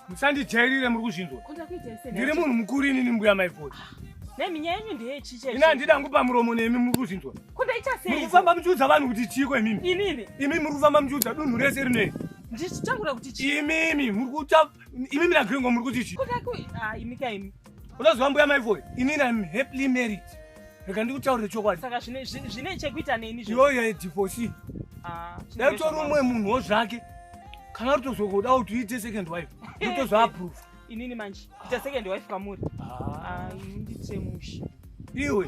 musandijairire muri kuzvinzwa ndiri munhu mukuru inini mbuya maivhoti ini handida ngupa muromo nemi muri kuzvinzwa muri kufamba muchiudza vanhu kuti chiiko imimi imimi muri kufamba muchiudza dunhu rese rinei imimi muri kuta imimi nagringo muri kuti chii unoziva mbuya maivoyo ini am happily married rega ndikutaurire chokwadi saka zvine chekuita neni iyoyo yedivosi ah, dai utori umwe munhuwo zvake kana rutozogoda kuti uite second wife utozoaprove inini manje ita second wife kamuri ah. ah, ndichemusha iwe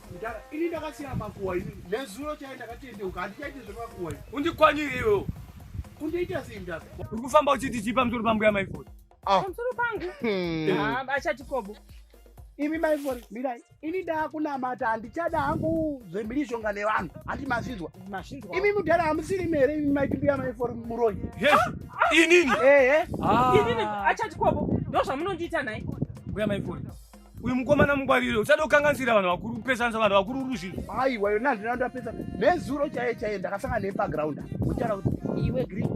Mdara, ini ndakasiya makuwa ini. Nezuro chai ndakatendeuka, handichaite zvemakuwa ini. Undikwanire iwewo. Undiita sei mdara? Uri kufamba uchiti chii pamusoro pambuya maifoni? Ah. Pamusoro pangu? Hmm. Ah, achati kobo. Imi maifoni, mirai. Ini ndakunamata handichada hangu zvemhirizhonga nevanhu. Handi mazvinzwa. Mazvinzwa. Imi mudhara hamusiri mere imi maitibuya maifoni muroyi. Yes. Ah, ah. Inini. Eh eh. Ah. Inini achati kobo. Ndozvamunondiita naye. Mbuya maifoni. uyu mukomana mungwarire usada kukanganisira vanhu vakuru kupesanisa vanhu vakuru uruzvinhu aiwa yona handina ndapesa nezuro chaiye chaiye ndakasangana neye pagraund uchara kuti iwe green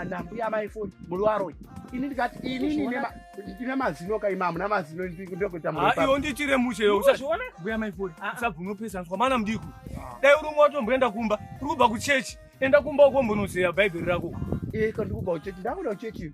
nambuya maifoni muri waroyi ini ndikati inini ndine mazino ka imamu namazino ndokuita muiwo ndichire mushe yo usazviona mbuya maifoni ah, ah. usabvume kupesaniswa mana mudiku ah. dai uri umwe watomboenda kumba uri kubva kuchechi enda kumba ukombonozeya bhaibheri rako iko ndikubva kuchechi ndakuda kuchechi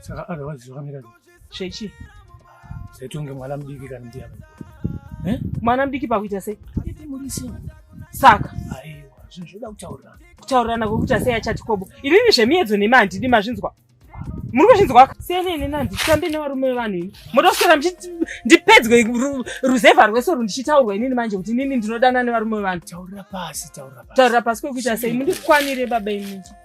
saka otherwise zvakamira chechi zaitonge mwana mudiki kana ndiya eh? mwana mudiki pakuita sei saka aiwa zvinhu zvoda kutaurirana kutaurirana kwekuti asei achati kobo inini zvemiedzo nemi handidi mazvinzwa muri kuzvinzwa siyana ini na nditambe nevarume vevanhu ini moda kuswera ndipedzwe ruzevha rwese ru ndichitaurwa inini manje kuti inini ndinodana nevarume vevanhu taurira pasi taurira pasi kwekuita sei mundikwanire baba inini